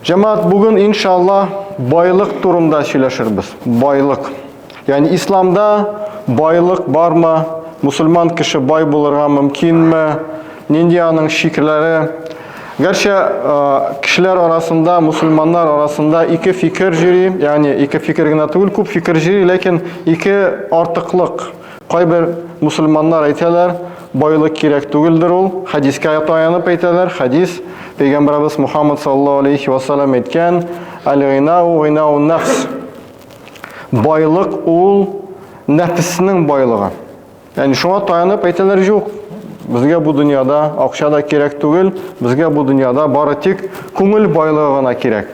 Җәмәгать, бүген иншалла байлык турында сөйләшербез. Байлык. Ягъни исламда байлык бармы? Мусульман кеше бай булырга мөмкинме? Нинди аның шикләре? Гәрчә кешеләр арасында, мусульманнар арасында ике фикер җири, ягъни ике фикер генә түгел, күп фикер җири, ләкин ике артыклык Кайбер мусульманнар әйтәләр, байлык кирәк түгелдер ул, хәдискә таянып әйтәләр, хәдис, пәйгамбәрабыз Мухаммад саллаллаһу алейхи ва саллям әйткән, аль-гинау гинау нәфс. Байлык ул нәфеснең байлыгы. Ягъни шуңа таянып әйтәләр юк. Безгә бу дөньяда акча да кирәк түгел, безгә бу дөньяда бары тик күңел байлыгы гына кирәк.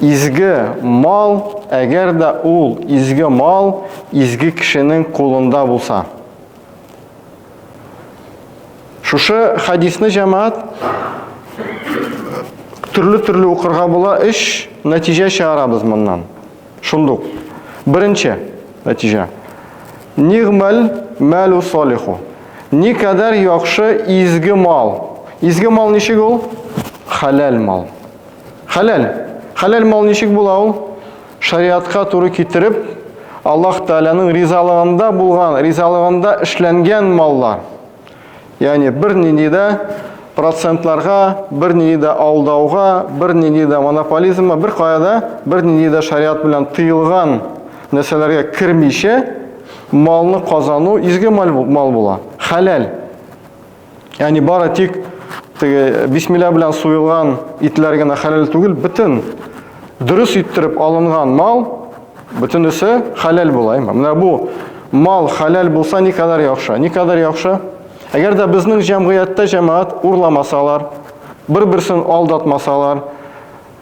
Изге мал, әгәр дә ул изге мал изге кешенең кулында булса. Шушы хадисны җәмәгать төрле-төрле укырга була, эш нәтиҗә чыгарабыз моннан. Шундук. Беренче нәтиҗә. Нигмәл мәлу солиху. Никадәр яхшы изге мал. Изге мал ничек ул? Халәл мал. Хәләл. Хәләл мал ничек була ул? Шариатка туры китереп, Аллаһ Тәгаләнең ризалыгында булган, ризалыгында эшләнгән маллар. Ягъни бернинди дә процентларга, бернинди дә алдауга, бернинди дә монополизмга, бер каяда бернинди дә шариат белән тыелган нәрсәләргә кермичә малны казану изге мал була. Хәләл. Яни бары тик теге бисмилла белән суелган итләр генә хәләл түгел, бөтен дөрес иттереп алынган мал бөтенесе хәләл була. Менә бу мал хәләл булса ни кадәр яхшы, ни кадәр яхшы. Әгәр дә безнең җәмгыятьтә җәмәгать урламасалар, бер-берсен алдатмасалар,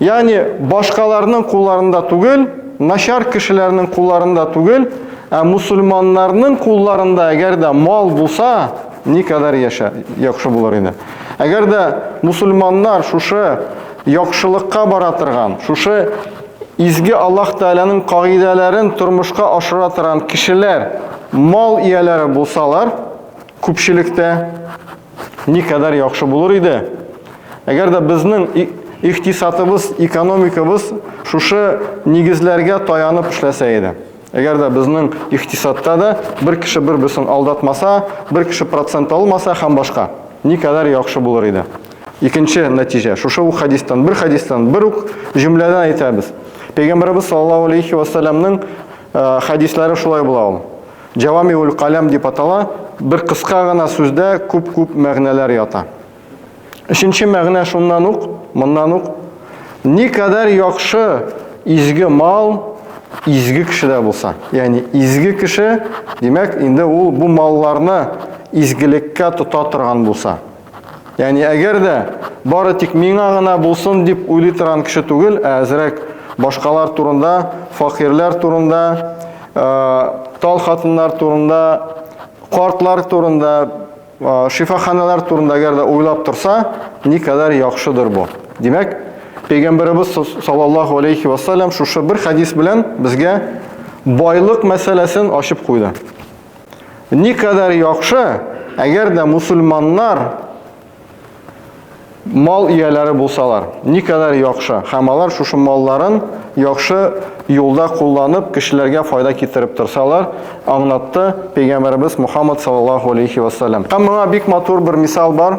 Ягъни башкаларның кулларында түгел, начар кешеләрнең кулларында түгел, ә мусульманнарның кулларында әгәр дә мал булса, никадәр яша яхшы булыр иде. Әгәр дә мусульманнар шушы яхшылыкка бара торган, шушы изге Аллаһ Тәгаләнең кагыйдәләрен тормышка ашыра торган кешеләр мал ияләре булсалар, күпчелектә Никадәр яхшы булыр иде, әгәр дә безнең икътисадыбыз, экономикабыз шушы нигезләргә таянып эшләсә иде. Әгәр дә безнең икътисадта да бер кеше бер бесен алдатмаса, бер кеше процент алмаса һәм башка, никадәр яхшы булыр иде. Икенче нәтиҗә, шушы ук хадистан, бер хадистан, бер ук җөмләдән әйтәбез. Пәйгамбәрбез саллаллаһу алейхи ва саллямның хадисләре шулай була ул. Җәвамиуль каләм дип атала, бер кыска гына сүздә күп-күп мәгънәләр ята. Өченче мәгънә шуннан ук, моннан ук, никадәр яхшы изге мал изге кешедә булса, ягъни изге кеше, димәк, инде ул бу малларны изгелеккә тота торган булса, Яни әгәр дә бары тик миңа гына булсын дип уйлый торган кеше түгел, ә әзрәк башкалар турында, факирләр турында, тал хатыннар турында, картлар турында, шифаханалар турында әгәр дә уйлап торса, никадәр яхшыдыр бу. Димәк, Пәйгамбәребез саллаллаху алейхи ва саллям шушы бер хадис белән безгә байлык мәсьәләсен ачып куйды. Никадәр яхшы, әгәр дә мусульманнар мал ияләре булсалар, никадәр яхшы. Һәм алар шушы малларын яхшы юлда кулланып, кешеләргә файда китереп торсалар, аңлатты пәйгамбәребез Мухаммад саллаллаһу алейхи ва саллям. Һәм моңа бик матур бер мисал бар.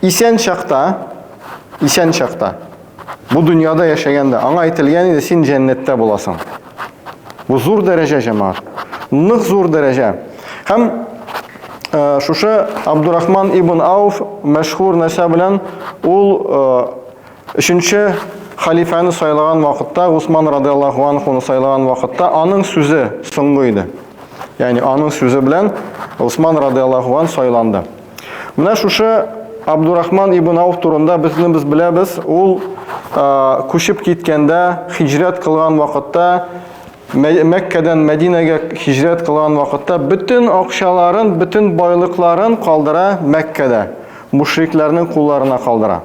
Исән чакта, исән чакта, бу дөньяда яшәгәндә, аңа әйтелгән иде, син җәннәттә буласың. Бу зур дәрәҗә, җәмаат. Нык зур дәрәҗә. Һәм э, шушы Абдурахман ибн Ауф мәшһүр нәрсә белән ул э, өченче халифаны сайлаган вакытта, Усман радиаллаху анхуны сайлаган вакытта аның сүзе соңгы иде. Ягъни аның сүзе белән Усман радиаллаху ан сайланды. Менә шушы Абдурахман ибн Ауф турында безне без беләбез. Ул күчеп киткәндә, хиҗрәт кылган вакытта, Мәккәдән Мәдинәгә хиҗрәт кылган вакытта бөтен акчаларын, бөтен байлыкларын калдыра Мәккәдә, мушрикларның кулларына калдыра.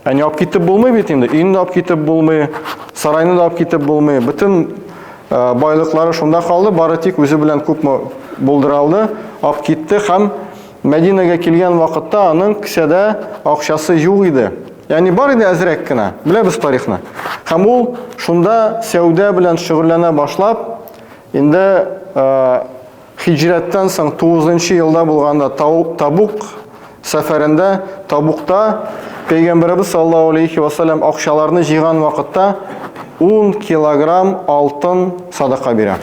Ә не алып китеп булмый бит инде. Өйне дә алып китеп булмый, сарайны да алып китеп булмый. Бөтен э, байлыклары шунда калды, бары тик үзе белән күпме булдыралды, алып китте һәм Мәдинәгә килгән вакытта аның кесәдә акчасы юк иде. Ягъни бар иде әзрәк кенә. Беләбез тарихны. Һәм ул шунда сәүдә белән шөгыльләнә башлап, инде э, Хиҗрәттән соң тугызынчы елда булганда Табук сәфәрендә Табукта Пәйгамбәребез саллаллаһу алейхи ва саллям акчаларны җыйган вакытта 10 килограмм алтын садака бирә.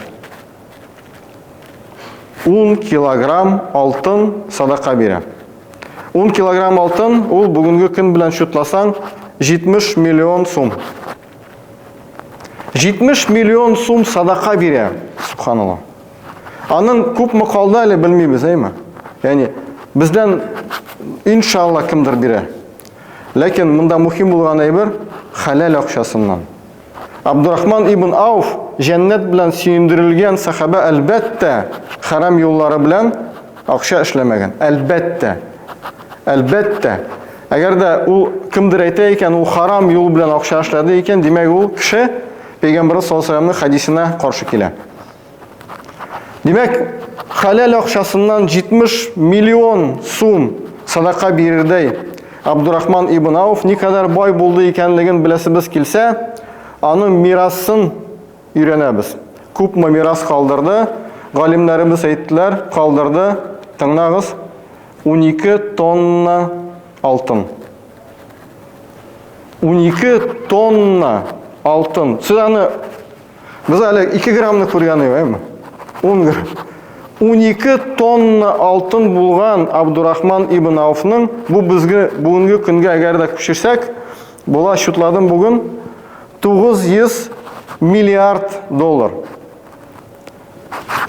10 килограмм алтын садака бирә. 10 килограмм алтын ул бүгенге көн белән шутласаң 70 миллион сум. 70 миллион сум садака бирә. Субханаллаһ. Аның күпме калды әле белмибез, әйме? Ягъни бездән иншалла кемдер бирә. Ләкин монда мөһим булган әйбер халал акчасыннан. Абдурахман ибн Ауф җәннәт белән сөендерелгән сахаба әлбәттә харам юллары белән акча эшләмәгән. Әлбәттә. Әлбәттә. Әгәр дә ул кемдер әйтә икән, ул харам юл белән акча эшләде икән, димәк ул кеше Пәйгамбәр саллаллаһу алейһи ва хадисына каршы килә. Димәк, хәләл акчасыннан 70 миллион сум садака бирердәй Абдурахман ибн Ауф никадәр бай булды икәнлеген беләсебез килсә, аның мирасын өйрәнәбез. Күпме мирас калдырды? Галимнәребез әйттеләр, калдырды. Тыңлагыз, 12 тонна алтын. 12 тонна алтын. Сез аны Без әле 2 граммны күргән идек, әйме? 10 грамм. 12 тонна алтын булган Абдурахман ибн Ауфның бу безгә бүгенге көнгә әгәр дә күчерсәк, була счетладым бүген 900 миллиард доллар.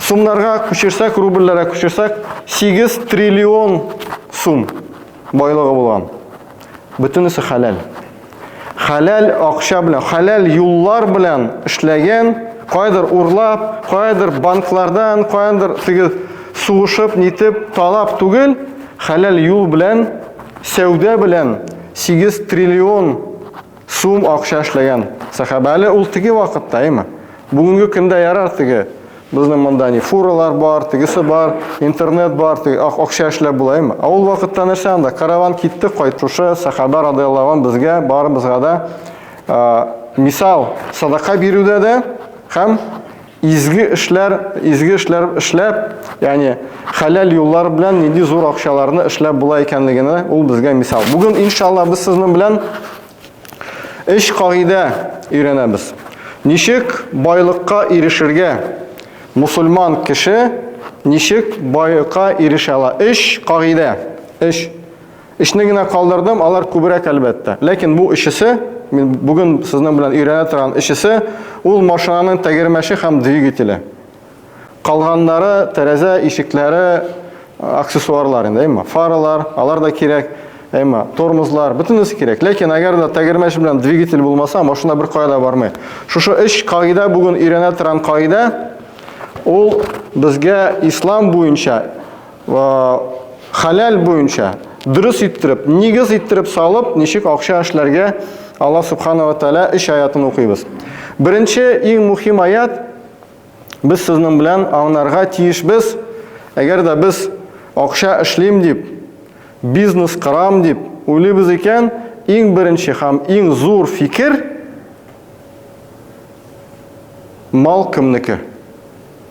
Сумнарга күчерсәк, рубльләргә күчерсәк, 8 триллион сум байлыгы булган. Бөтенесе хәләл. Хәләл акча белән, хәләл юллар белән эшләгән, кайдыр урлап, кайдыр банклардан, кайдыр тигез сугышып, нитеп, талап түгел, хәләл юл белән, сәүдә белән 8 триллион Сум акча эшләгән сәхабә. Әле ул теге вакытта, әйме? Бүгенге көндә ярар теге. Безнең монда ни фуралар бар, тегесе бар, интернет бар, теге ак акча эшләп була, әйме? А ул вакытта нәрсә анда? Караван китте, кайтушы сәхабә радияллаһу ан безгә барыбызга да мисал садака бирүдә дә һәм Изге эшләр, изге эшләр эшләп, ягъни хәләл юллар белән нинди зур акчаларны эшләп була икәнлегенә ул безгә мисал. Бүген иншалла без сезнең белән өч кагыйдә өйрәнәбез. Ничек байлыкка ирешергә? Мусульман кеше ничек байлыкка ирешә ала? Өч кагыйдә. Өч Өчне генә калдырдым, алар күбрәк әлбәттә. Ләкин бу өчесе, мин бүген сезнең белән өйрәнә торган өчесе, ул машинаның тәгәрмәче һәм двигателе. Калганнары, тәрәзә, ишекләре, аксессуарлар инде, әйме? Фаралар, алар да кирәк, әйме? Тормозлар, бөтенесе кирәк. Ләкин әгәр дә тәгәрмәч белән двигатель булмаса, машина беркая да бармый. Шушы өч кагыйдә бүген өйрәнә торган кагыйдә, ул безгә ислам буенча хәләл буенча дөрес иттереп, нигез иттереп салып, ничек акча эшләргә Аллаһ субханала тәала өч аятын укыйбыз. Беренче иң мөһим аят без сезнең белән аңнарга тиешбез. Әгәр дә без акча эшлим дип, бизнес кырам дип уйлыйбыз икән, иң беренче һәм иң зур фикер мал кемнеке?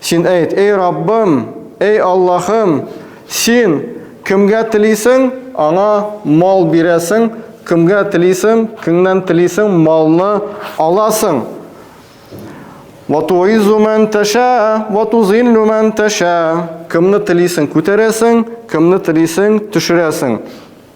Син әйт, эй Раббым, эй Аллаһым, син кемгә телисең, аңа мал бирәсең, кемгә телисең, кемнән телисең, малны аласың. Ватуизу мән тәшә, ватузиллу мән тәшә. Кемне телисең, күтәрәсең, кемне телисең, төшерәсең.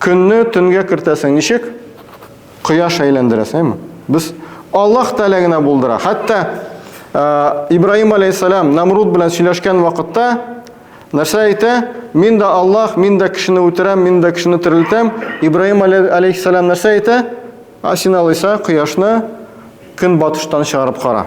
Көнне төнгә кертәсең ничек? Кояш әйләндерә, сәйме? Без Аллаһ Тәгалә генә булдыра. Хәтта ә, Ибраһим алейхиссалам Намруд белән сөйләшкән вакытта нәрсә әйтә? Мин дә Аллаһ, мин дә кешене үтерәм, мин дә кешене терелтәм. Ибраһим алейхиссалам нәрсә әйтә? Асин алайса кояшны көнбатыштан чыгарып кара.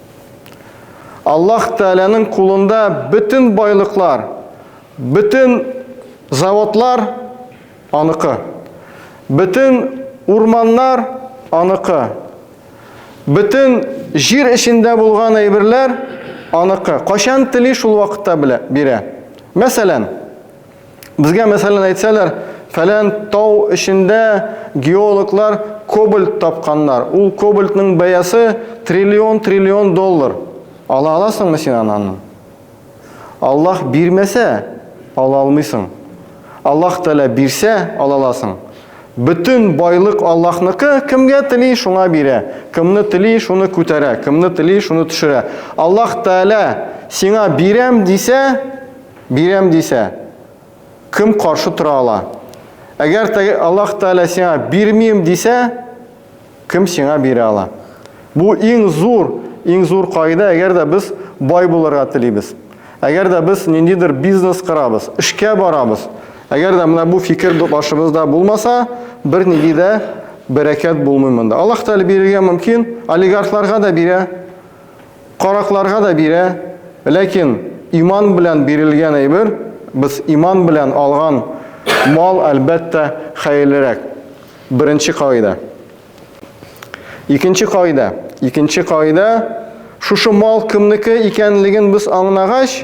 Аллаһ Тәгаләнең кулында бөтен байлыклар, бөтен заводлар аныкы. Бөтен урманнар аныкы. Бөтен җир эчендә булган әйберләр аныкы. Качан тели шул вакытта белә, бирә. Мәсәлән, Безгә мәсәлән әйтсәләр, фәлән тау эчендә геологлар кобальт тапканнар. Ул кобальтның бәясе триллион триллион доллар. Ала аласыңмы син аны? Аллаһ бирмәсә, ала алмыйсың. Аллаһ Тәгалә бирсә, ала аласың. Бөтен байлык Аллаһныкы, кемгә тели, шуңа бирә. Кемне тели, шуны күтәрә, кемне тели, шуны төшерә. Аллаһ Тәгалә сиңа бирәм дисә, Бирәм дисә, кем каршы тора ала? Әгәр теге Аллаһ Тәгалә сиңа бирмим дисә, кем сиңа бирә ала? Бу иң зур, иң зур кагыйдә, әгәр дә без бай булырга телибез. Әгәр дә без ниндидер бизнес корабыз, эшкә барабыз, әгәр дә менә бу фикер башыбызда булмаса, бернинди дә бәрәкәт булмый монда. Аллаһ Тәгалә бирергә мөмкин, олигархларга да бирә. Каракларга да бирә, ләкин иман белән бирелгән әйбер, без иман белән алган мал, әлбәттә, хәерлерәк. Беренче кагыйдә. Икенче кагыйдә. Икенче кагыйдә, шушы мал кемнеке икәнлеген без аңнагач,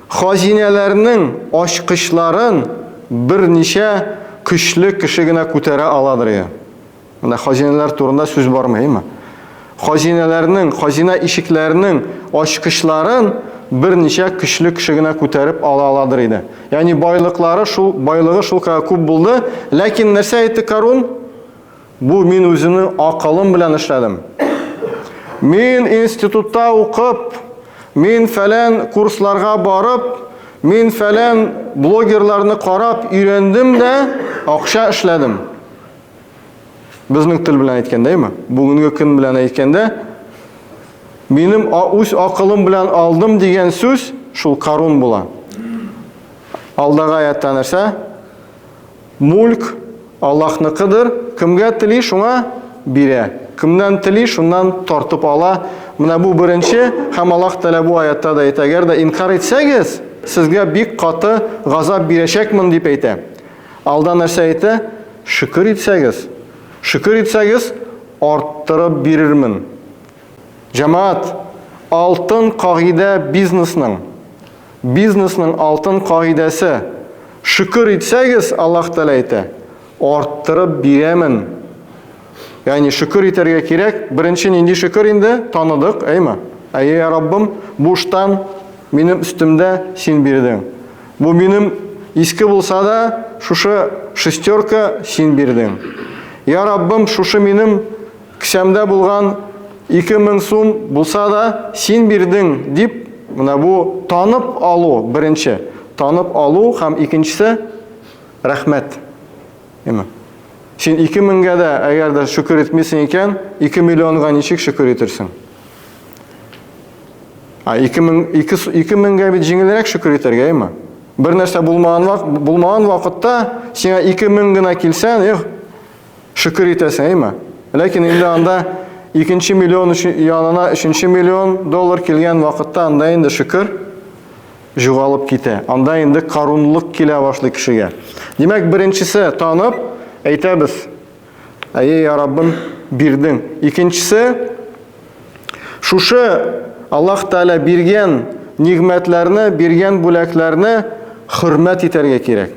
Хазинәләрнең ачкычларын берничә көчле кеше генә күтәрә аладыр иде. Монда хазинәләр турында сүз бармыймы? Хазинәләрнең, хазина ишекләренең ачкычларын берничә көчле кеше генә күтәреп ала аладыр иде. Ягъни байлыклары шул, байлыгы шулкадәр күп булды, ләкин нәрсә әйтте Карун? Бу мин үземнең акылым белән эшләдем. Мин институтта укып, мин фәлән курсларга барып, мин фәлән блогерларны карап өйрәндем дә, акча эшләдем. Безнең тел белән әйткәндә, әйме? Бүгенге көн белән әйткәндә, минем үз акылым белән алдым дигән сүз шул карун була. Алдагы аятта нәрсә? Мүлк, Аллаһныкыдыр, кемгә тели, шуңа бирә, кемнән тели, шуннан тартып ала. Менә бу беренче, һәм Аллаһ Тәгалә бу аятта да әйтә, Әгәр дә инкар итсәгез, сезгә бик каты газап бирәчәкмен, дип әйтә. Алда нәрсә әйтә? Шөкер итсәгез, шөкер итсәгез, арттырып бирермен. Җәмәгать, алтын кагыйдә бизнесның. бизнесның алтын кагыйдәсе, шөкер итсәгез, Аллаһ Тәгалә әйтә, арттырып бирәмен. Ягъни шөкер итәргә кирәк. Беренче нинди шөкер инде? Таныдык, әйме? Әйе, я Раббым, буштан минем өстемдә син бирдең. Бу минем иске булса да, шушы шестерка син бирдең. Я Раббым, шушы минем Кесәмдә булган ике мең сум булса да, син бирдең, дип, менә бу танып алу, беренче, танып алу һәм икенчесе, рәхмәт. Яме. Син ике меңгә дә, әгәр дә шөкер итмисең икән, ике миллионга ничек шөкер итерсең? А, ике мең, ике, ике меңгә бит җиңелрәк шөкер итәргә, яме. Бер нәрсә булмаган, вак, булмаган вакытта, сиңа ике мең генә килсә, эх, Шөкер итәсең, әйме? Ләкин инде анда икенче миллион янына өченче миллион доллар килгән вакытта анда инде шөкер җугалып китә. Анда инде карунлык килә башлый кешегә. Димәк, беренчесе танып, әйтәбез, әйе, я Раббым, бирдең. Икенчесе, шушы Аллаһ Тәгалә биргән нигъмәтләрне, биргән бүләкләрне хөрмәт итәргә кирәк.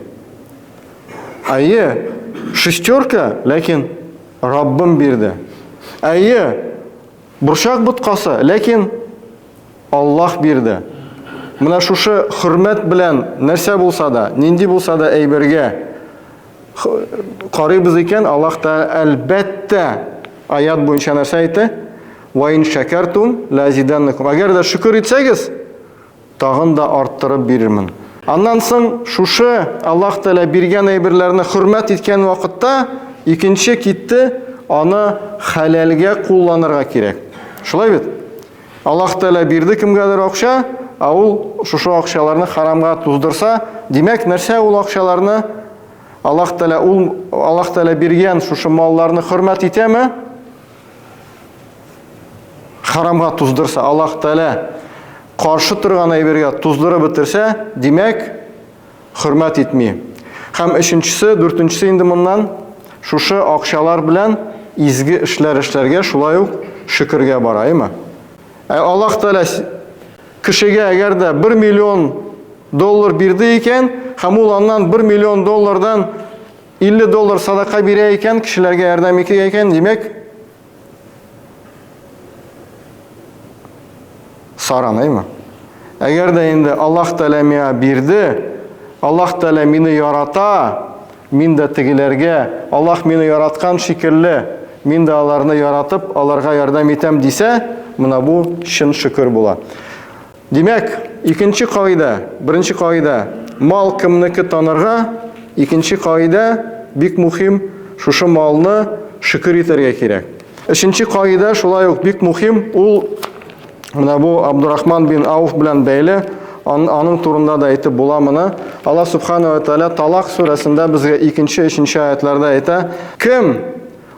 Әйе, шестерка, ләкин Раббым бирде. Әйе, борчак боткасы, ләкин Аллах бирде. Менә шушы хөрмәт белән нәрсә булса да, нинди булса да әйбергә карыйбыз икән, Аллах та әлбәттә аят буенча нәрсә әйтте? Ва ин шакартум ла азиданнакум. Әгәр дә шөкер итсәгез, Тагын да арттырып бирермен. Аннан соң шушы Аллаһ Тәгалә биргән әйберләрне хөрмәт иткән вакытта икенче китте, аны хәләлгә кулланырга кирәк. Шулай бит? Аллаһ Тәгалә бирде кемгәдер акча, ә ул шушы акчаларны харамга туздырса, димәк, нәрсә ул акчаларны Аллаһ Тәгалә ул Аллаһ Тәгалә биргән шушы малларны хөрмәт итәме? Харамга туздырса, Аллаһ Тәгалә каршы торган әйбергә туздырып бетерсә, димәк, хөрмәт итми. Һәм өченчесе, дүртенчесе инде моннан шушы акчалар белән изге эшләр эшләргә, шулай ук шөкергә бара, әйме? Ә Аллаһ Тәгалә кешегә әгәр дә 1 миллион доллар бирде икән, һәм ул аннан 1 миллион доллардан 50 доллар садака бирә икән, кешеләргә ярдәм итә икән, димәк, Саранаймы? Әгәр дә инде Аллаһ Тәгалә миңа бирде, Аллаһ Тәгалә мине ярата, мин дә тегеләргә, Аллаһ мине яраткан шикелле, мин дә аларны яратып, аларга ярдәм итәм дисә, менә бу чын шөкер була. Димәк, икенче кагыйдә, беренче кагыйдә, мал кемнеке танырга, икенче кагыйдә, бик мухим, шушы малны шөкер итәргә кирәк. Өченче кагыйдә шулай ук бик мухим, ул менә бу Абдурахман бин Ауф белән бәйле, аның турында да әйтеп була моны. Аллаһ Субхану ва Тааля Талак сүрәсендә безгә икенче, өченче аятларда әйтә, кем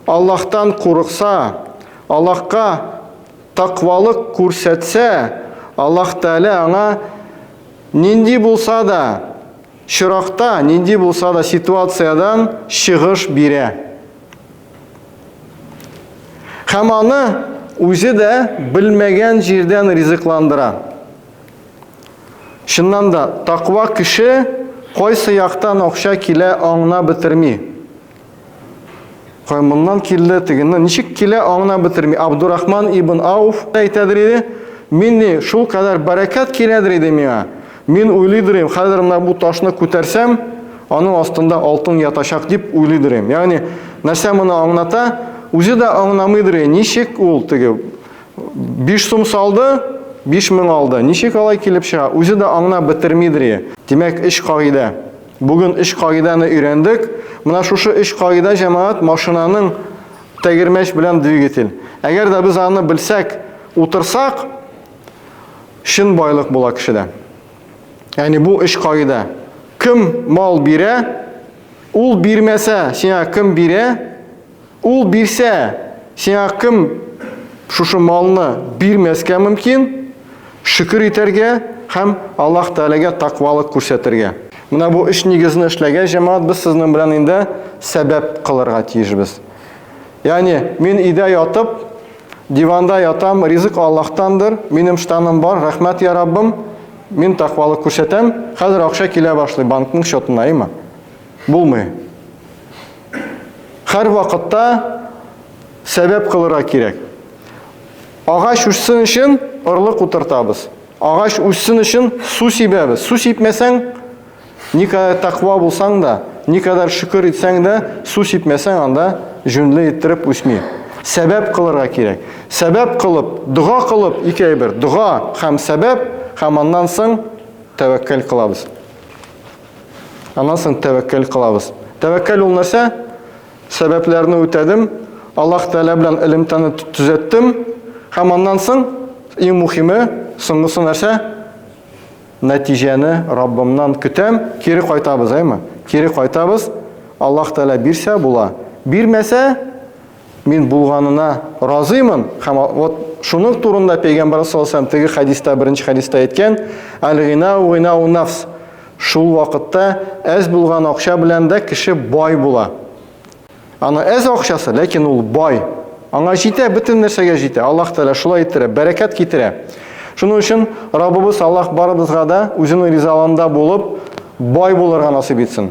Аллаһтан курыкса, Аллаһка Такъвалык күрсәтсә, Аллаһ Тәгалә аңа нинди булса да чоракта, нинди булса да ситуациядән чыгыш бирә. Һәм аны үзе дә белмәгән җирдән ризыкландыра. Чыннан да, такъва кеше кайсы яктан акча килә аңна бетерми. Кай моннан килде, тегеннән ничек килә, аңына бетерми. Абдурахман ибн Ауф әйтәдер иде, мин ни шул кадәр бәрәкәт киләдер иде миңа. Мин уйлыйдыр идем, хәзер менә бу ташны күтәрсәм, аның астында алтын ятачак дип уйлыйдыр идем. Ягъни нәрсә моны аңлата? Үзе дә аңламыйдыр, ничек ул теге 5 сум салды, 5000 алды. Ничек алай килеп чыга? Үзе дә аңна бетермидер. Димәк, эш кагыйдә. Бүген өч кагыйдәне өйрәндек. Менә шушы өч кагыйдә җәмәгать машинаның тәгәрмәч белән двигатель. Әгәр дә без аны белсәк, утырсак, чын байлык була кешедә. Яни бу өч кагыйдә. Кем мал бирә, ул бирмәсә, сиңа кем бирә? Ул бирсә, сиңа кем шушы малны бирмәскә мөмкин? Шөкер итәргә һәм Аллаһ Тәгаләгә такъвалык күрсәтергә. Менә бу өч нигезне эшләгәч, җәмәгать, без сезнең белән инде сәбәп кылырга тиешбез. Ягъни, мин өйдә ятып, диванда ятам, ризык Аллаһтандыр, минем штаным бар, рәхмәт, йа Раббым, мин такъвалык күрсәтәм, хәзер акча килә башлый банкның счетына, әйеме? Булмый. Хәр вакытта сәбәп кылырга кирәк. Агач үссен өчен орлык утыртабыз. Агач үссен өчен су сибәбез. Су сипмәсәң, никадәр тәкъва булсаң да, никадәр шөкер итсәң дә, су сипмәсәң анда җүнле иттереп үсми. Сәбәп кылырга кирәк. Сәбәп кылып, дога кылып, ике әйбер, дога һәм сәбәп, һәм аннан соң тәвәккәл кылабыз. Аннан соң тәвәккәл кылабыз. Тәвәккәл ул нәрсә? Сәбәпләрне үтәдем, Аллаһ Тәгалә белән элемтәне төзәттем һәм аннан соң иң мухиме, соңгысы нәрсә? Нәтиҗәне Раббымнан көтәм, кире кайтабыз, әйме? Кире кайтабыз. Аллаһ Тәгалә бирсә була, бирмәсә, Мин булганына разыймын һәм вот шуның турында пәйгамбәр саллаллаху теге хәдистә беренче хәдистә әйткән әлгина угына унафс шул вакытта әз булган акча белән дә кеше бай була аны әз акчасы ләкин ул бай аңа җитә бөтен нәрсәгә җитә аллаһ тәала шулай иттерә бәрәкәт китерә шуның өчен раббыбыз аллаһ барыбызга да үзенең ризаланында булып бай булырга насыйп итсен